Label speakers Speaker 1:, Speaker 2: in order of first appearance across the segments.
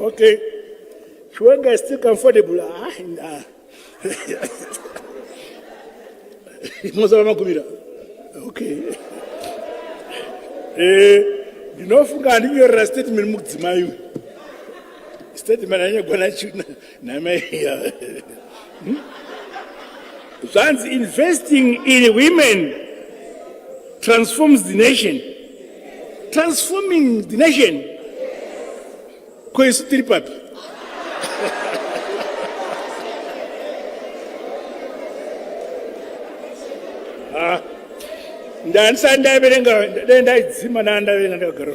Speaker 1: Okay. Chiwenga is still comfortable. Ah, nah. Mozava makumira. Okay. Eh, ndinofunga handinyorera statement mukudzimai uyu. Statement anyagona china. Hmm? zvanzi investing in women transforms the nation transforming the nation ko isu tiri papi ah, ndandisati ndaiverenga dai ndaidzima ndaa ndaiverenga ndakagara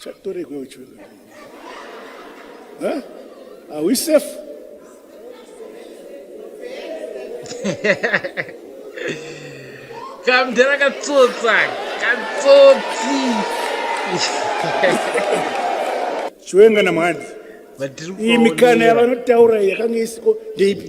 Speaker 1: Chatoregwe uchiwe. Huh? Are we safe?
Speaker 2: Kamdera katsotsa, katsotsi.
Speaker 1: Chiwenga na mhani. Iyi mikana yavanotaura yakanga isiko ndeipi?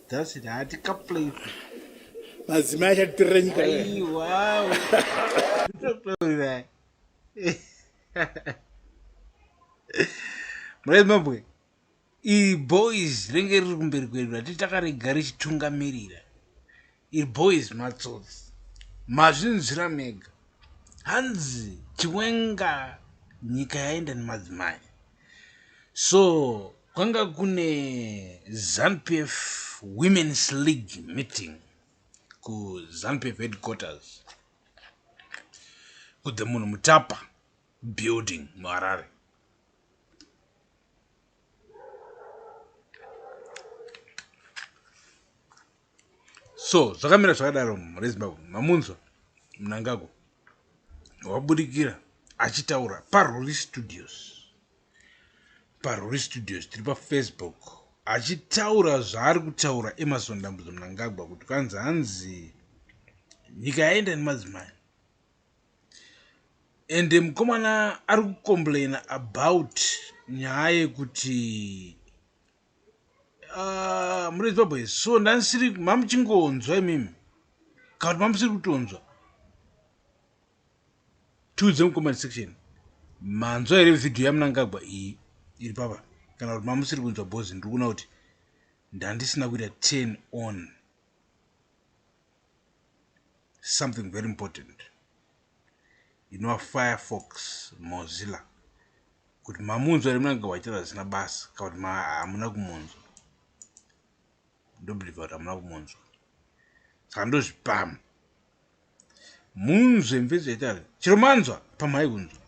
Speaker 2: That's it. Hati kaplay.
Speaker 1: Mazima acha trench ka.
Speaker 2: Ai wow. Murezi mabwe. I boys renge riri kumberi kwedu rati takarega richitungamiririra. I boys matsotsi. Mazvinzwira mega. Hanzi chiwenga nyika yaenda nemadzimai. So kwanga kune ZanuPF Women's League meeting kuZanuPF headquarters ku the munhu mutapa building muharare So zvakamira zvakadaro mhuri yeZimbabwe mamunzwa Mnangagwa wabudikira achitaura paRuri Studios. PaRuri Studios tiri paFacebook achitaura zvaari kutaura Emerson Dambudzo Mnangagwa kuti kwanzi hanzi nyika yaenda nemadzimai. Ende mukomana ari kucomplaina about nyaya yekuti Ah, muri baba here so ndanisiri mamuchingonzwa imimi kana kuti mamusiri kutonzwa tiudze mucomment section manzwa here vhidhiyo yamunangagwa iyi iri papa kana kuti mamusiri kunzwa bhozi ndiri kuona kuti ndandisina kuita ten on something very important inova firefox mozilla kuti mamunzwa ri munanga waitaura zvisina basa kana kuti hamuna kumunzwa ndobhilivha kuti hamuna kumunzwa saka ndozvipama munzve mvezi yaitaura chero manzwa pamhai kunzwa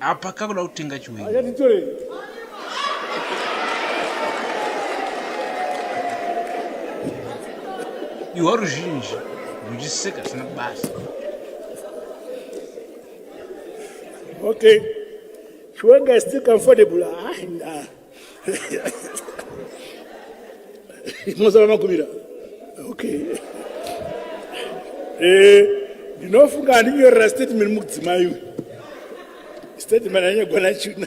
Speaker 2: apa kakuda kutenga chiwei iwa ruzhinji ruchiseka zvisina basa
Speaker 1: Okay. Chiwenga is still comfortable. Ah, nah. Mozava makumira. Okay. Eh, ndinofunga handinyorera statement mukudzimai uyu. Statement anyagona china.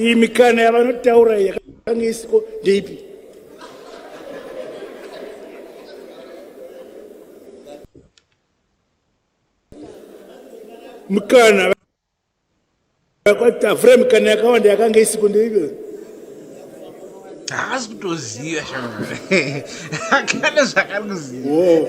Speaker 1: iyi mikana yavanotaura yakanga isiko ndeipi mikana kwatavura mikana yakawanda yakanga isiko ndeipi
Speaker 2: haasi kutoziva shamare akana zvakarikuziva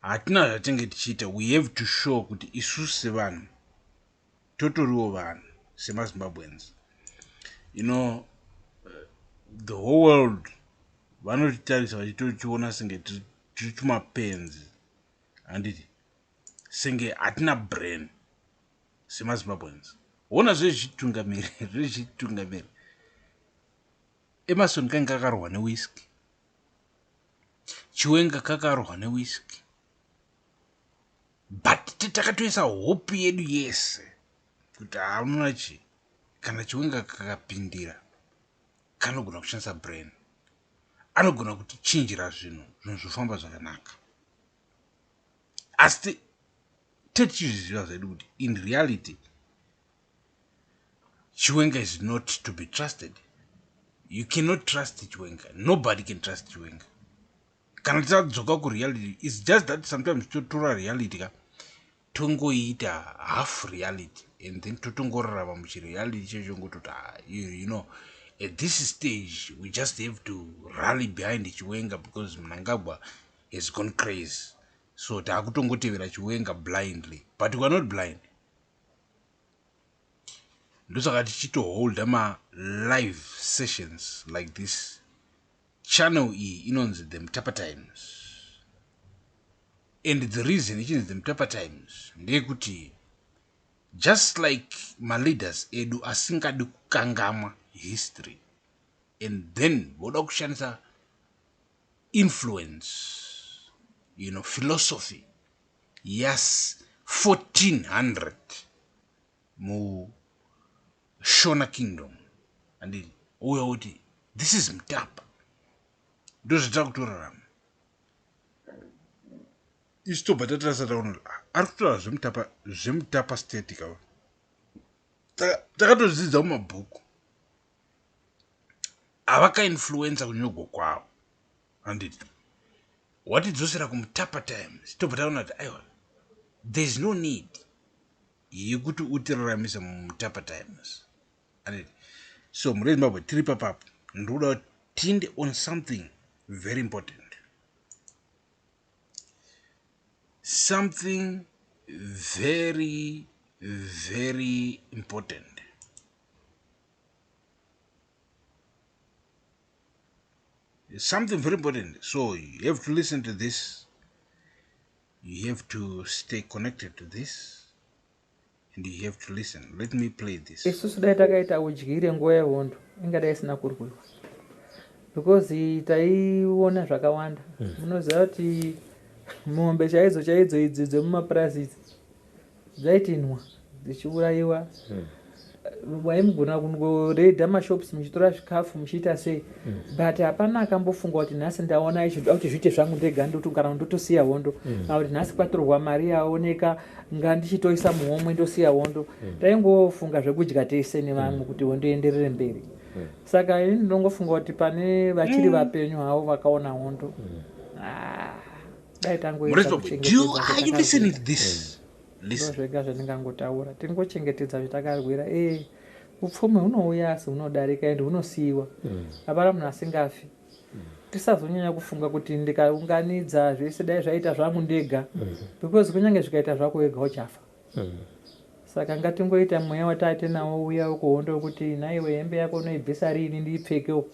Speaker 2: Hatina zvatinge tichiita we have to show kuti isusu sevanhu totoriwo vanhu semaZimbabweans you know eh, the whole world vanotitarisa vachitotiona senge tiri tumapenzi handiti senge hatina brain semazimbabweans hona zvezvitungamiri zvezvitungamiri emarson kange kakarohwa newiski Chiwenga kakarohwa ne whisky. But takatoisa hope yedu yese kuti hauna chi kana chiwenga kakapindira kanogona kushandisa brain. Anogona kuti chinjira zvinhu zvinhu zvofamba zvakanaka. Asi tetichizviziva zvedu kuti in reality Chiwenga is not to be trusted. You cannot trust Chiwenga. Nobody can trust Chiwenga. Kana tadzoka ku reality, it's just that sometimes totora reality ka tongoita half reality and then totongorarama muchireality checho ngototi ah, you know at this stage we just have to rally behind chiwenga because mnangagwa has gone crazy so taakutongotevera chiwenga blindly but weare not blind ndosaka tichitoholder malive sessions like this channel iyi inonzi the mtapa times and the reason ichinzi the mtapa times ndeyekuti just like maleaders edu asingadi kukangamwa history and then voda kushandisa influence you know philosophy yas 1400 mu shona kingdom andii ouya uti this is mtapa ndozvitira kutorarama isu tobva tatirasa taona ah, ari kutora zvemutapa zvemutapa state ka takatodzidza mumabhuku avakainfluencer kunyogwa kwavo handiti watidzosera kumutapa times tobva taona kuti aiwa thereis no need yekuti utiraramise mumutapa times handiti so mhuri yezimbabwe tiri papapo ndikuda kuti tinde on something very important something very very important It's something very important. So you have to listen to this. You have to stay connected to this. And you have to listen. Let me play this. Isusu dai takaita
Speaker 3: udyire nguva yehondo ingadai isina kurwiwa because taiona zvakawanda hmm. munoziva kuti mombe chaidzo chaidzo idzi dzemumapurazi idzi dzaitinwa dzichiurayiwa hmm. waimugona kungoredha mashops muchitora zvikafu muchiita sei hmm. but hapana akambofunga kuti nhasi ndaona ichizoda kuti zviite zvangu ndega ndoti kana ndotosiya hondo hmm. kana kuti nhasi kwatorwa mari yaoneka nga ndichitoisa muhomwe ndosiya hondo taingofunga zvekudya tese nevamwe kuti hondo ienderere mberi saka ini ndinongofunga kuti pane vachiri vapenyu havo vakaona hondo ah. dai tangoedza kuchengetedzazvega zvandingangotaura tiri ngochengetedza zvatakarwira e eh, upfumi hunouya asi hunodarika endi hunosiyiwa mm. hapana munhu asingafi mm. tisazonyanya kufunga kuti ndikaunganidza zvese dai zvaita zvangu ndega mm-hmm. because kunyange zvikaita zvako wega uchafa Saka ngatingoita mweya watatenawo uya wekuhondo wekuti nhaiwe hembe yako unoibvisa riini ndiipfekewo.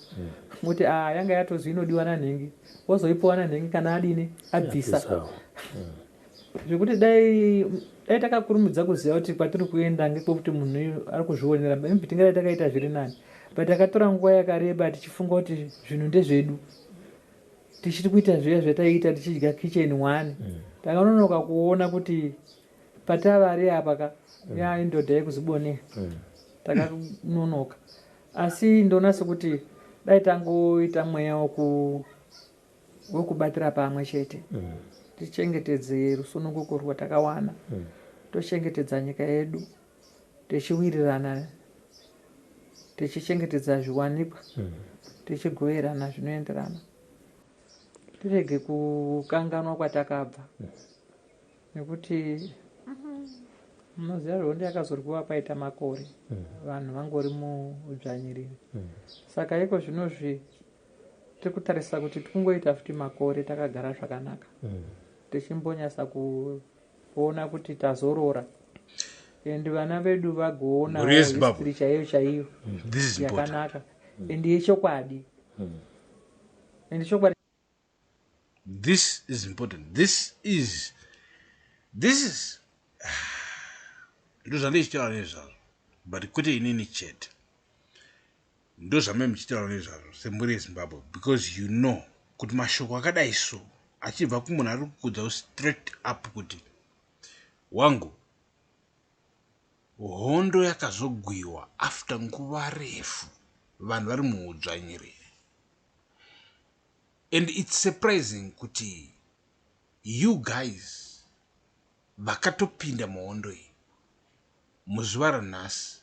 Speaker 3: Kuti aah yanga yatozi inodiwa nanhingi wozoipuwa nanhingi kana adini abvisa. Zvekuti dai dai takakurumidza kuziva kuti kwatiri kuenda ngekwekuti munhu uyu ari kuzvionera maybe tingadai takaita zviri nani but takatora nguva yakareba tichifunga kuti zvinhu ndezvedu. tichiri kuita zviya zvataiita tichidya kitchen one mm. takanonoka kuona kuti patavari apa ka mm. ya indodha yekuzibonea mm. takanonoka asi ndoona sekuti dai tangoita mweya woku wekubatira pamwe chete mm. tichengetedze rusununguko rwatakawana mm. tochengetedza nyika yedu tichiwirirana tichichengetedza zviwanikwa mm. tichigoverana zvinoenderana tirege kukanganwa kwatakabva mm. nekuti munoziva mm-hmm. hondo yakazorwiwa paita makore mm. vanhu vangori mudzvanyiriri mm. saka iko zvinozvi tiri kutarisa kuti tikungoita futi makore takagara zvakanaka mm. tichimbonyasa ku kuona kuti tazorora and vana vedu vagoona Mhuri yeZimbabwe. history chaiyo chaiyo This is important. yakanaka and yechokwadi and chokwadi
Speaker 2: This is important. This is this is ndozvandichitaura nezvazvo but kwete inini chete Ndozvamai muchitaura nezvazvo semhuri yeZimbabwe because you know kuti mashoko akadai so achibva kumunhu ari kukudza straight up kuti wangu hondo yakazogwiwa after nguva refu vanhu vari muudzvanyiriri and it's surprising kuti you guys vakatopinda muhondo iyi muzuva ranhasi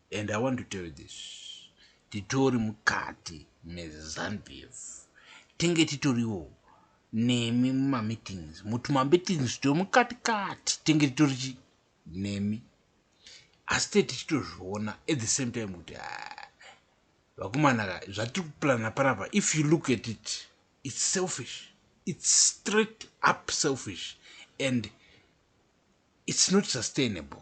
Speaker 2: and i want to tell you this titori mukati mezanbf tenge titoriwo nemi mumameetings mutumameetings titori mukati kati tenge titori chi nemi asi te tichitozviona at the same time kuti ah, vakumanaka zvatiri kuplana panapa if you look at it it's selfish it's straight up selfish and it's not sustainable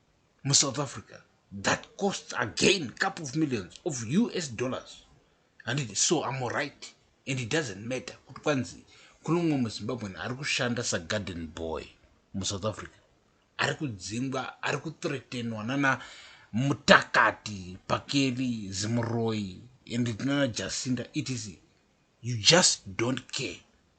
Speaker 2: musouth africa that costs again couple of millions of us dollars handiti so am right and it doesn't matter kuti kwanzi kune umwe muzimbabwen ari kushanda sagarden boy musouth africa ari kudzingwa ari kuthretenwa nana mutakati pakeli zimuroyi and nana jacinda etc you just don't care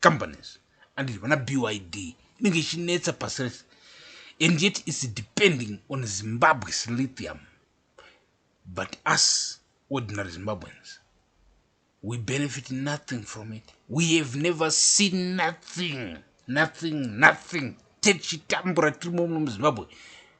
Speaker 2: companies and vana byd inenge ichinetsa pasi rese and yet its depending on zimbabwe's lithium but us ordinary zimbabweans we benefit nothing from it we have never seen nothing nothing nothing techitambura tiri muno muzimbabwe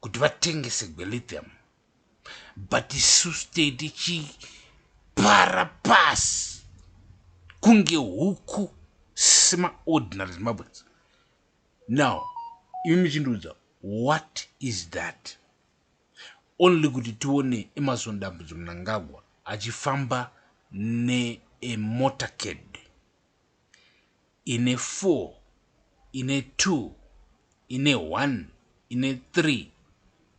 Speaker 2: kuti vatengese gwelithium but isu state ichipara pasi kunge huku semaordinary zimbabweans now imi muchindiudza what is that only kuti tione emarson dambudzo munangagwa achifamba neemotorcade ine four, ine two, ine one, ine three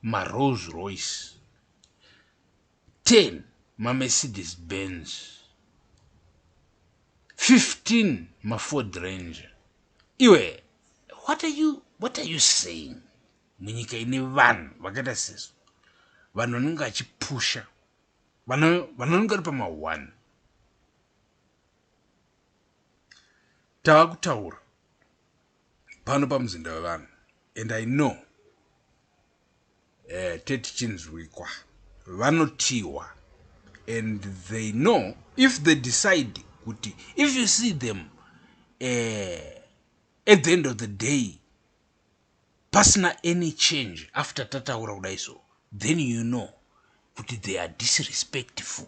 Speaker 2: maRolls Royce, ten maMercedes Benz, fifteen maFord Ranger. Iwe, what are you, what are you saying? Munyika ine vanhu vakaita sesu, vanhu vanenge vachipusha, vanhu vanenge vari pama one. Takutaura pano pamuzinda wevanhu and I know eh, tete chinzwikwa vanotiwa and they know if they decide kuti if you see them eh, at the end of the day pasina any change after tataura kudai so then you know kuti they are disrespectful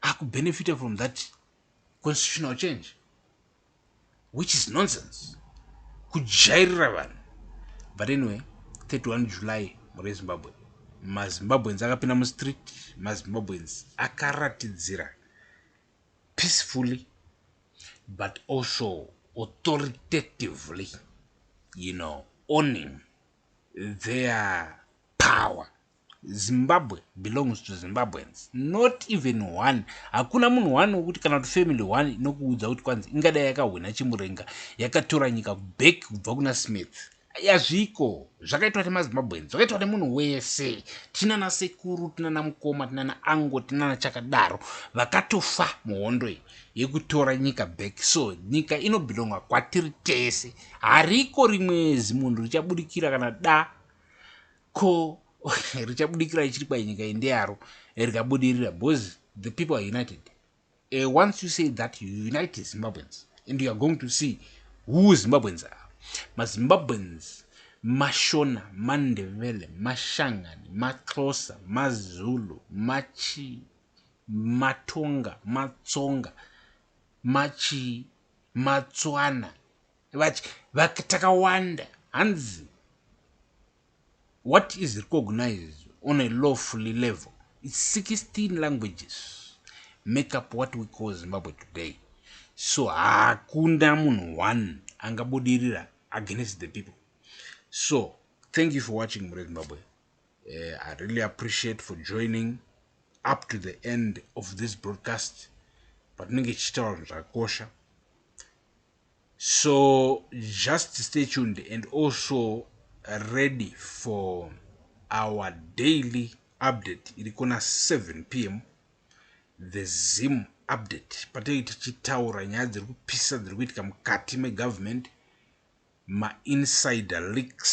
Speaker 2: akubenefita from that constitutional change which is nonsense kujairira vanhu but anyway 31 july mhuri yezimbabwe mazimbabweans akapinda mustreet mazimbabweans akaratidzira peacefully but also authoritatively you know owning their power Zimbabwe belongs to Zimbabweans not even one hakuna munhu one wekuti kana kuti family one inokuudza kuti kwanzi ingadai yakahwina chimurenga yakatora nyika back kubva kuna Smith yazviko zvakaitwa nemazimbabweans zvakaitwa nemunhu wese tinana sekuru tinana mukoma tinana ango tinana chakadaro vakatofa muhondo iyi yekutora nyika back so nyika inobhilonga kwatiri tese hariko rimwe zimunhu richabudikira kana da Ko richabudikirai chiri kwai nyika iyi ndeyaro rikabudirira because the people are united. Uh, once you say that you unite Zimbabweans and you are going to see who Zimbabweans are. MaZimbabweans mashona mandevele mashangani maxhosa mazulu machi matonga matsonga machi matswana vach vak takawanda hanzi what is recognized on a lawfully level its 16 languages make up what we call zimbabwe today so hakuna munhu one angabudirira against the people so thank you for watching mure zimbabwe uh, i really appreciate for joining up to the end of this broadcast patinenge tichitaura zvinhu zvakakosha So just stay tuned and also ready for our daily update iri kona 7 pm the zim update patinenge tichitaura nyaya dziri kupisa dziri kuitika mukati megovernment mainsider leaks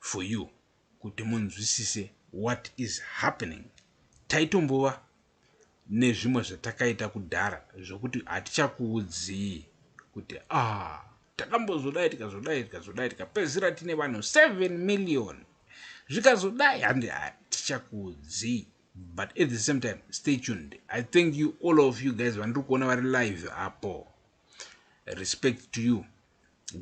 Speaker 2: for you kuti munzwisise what is happening. Taitombova nezvimwe zvatakaita kudhara zvokuti hatichakuudzii kuti ah takambozodai tikazodai tikazodai tikapedzisira tine vanhu 7 million zvikazodai handi hatichakuudzii but at the same time stay tuned i thank you all of you guys vandiri kuona vari live apo respect to you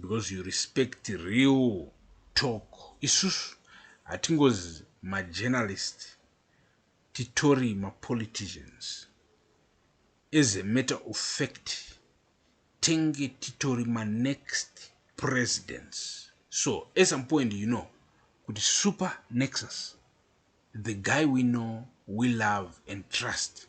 Speaker 2: because you respect real talk isusu hatingozi majournalist titori mapoliticians as a matter of fact tenge titori manext presidents so at some point you know kuti super nexus the guy we know we love and trust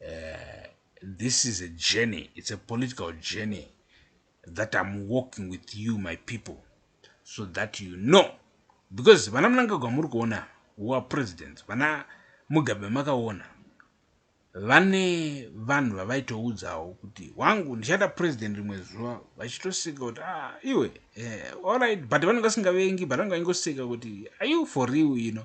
Speaker 2: uh, this is a journey it's a political journey that i'm walking with you my people so that you know because vana munangagwa muri kuona wa president vana mugabe makaona vane vanhu vavaitoudzawo kuti wangu ndichada president rimwe zuva vachitoseka kuti ah, iwe eh, allright but vanenge vasingavengi but vanenge vaingoseka kuti are you for real you know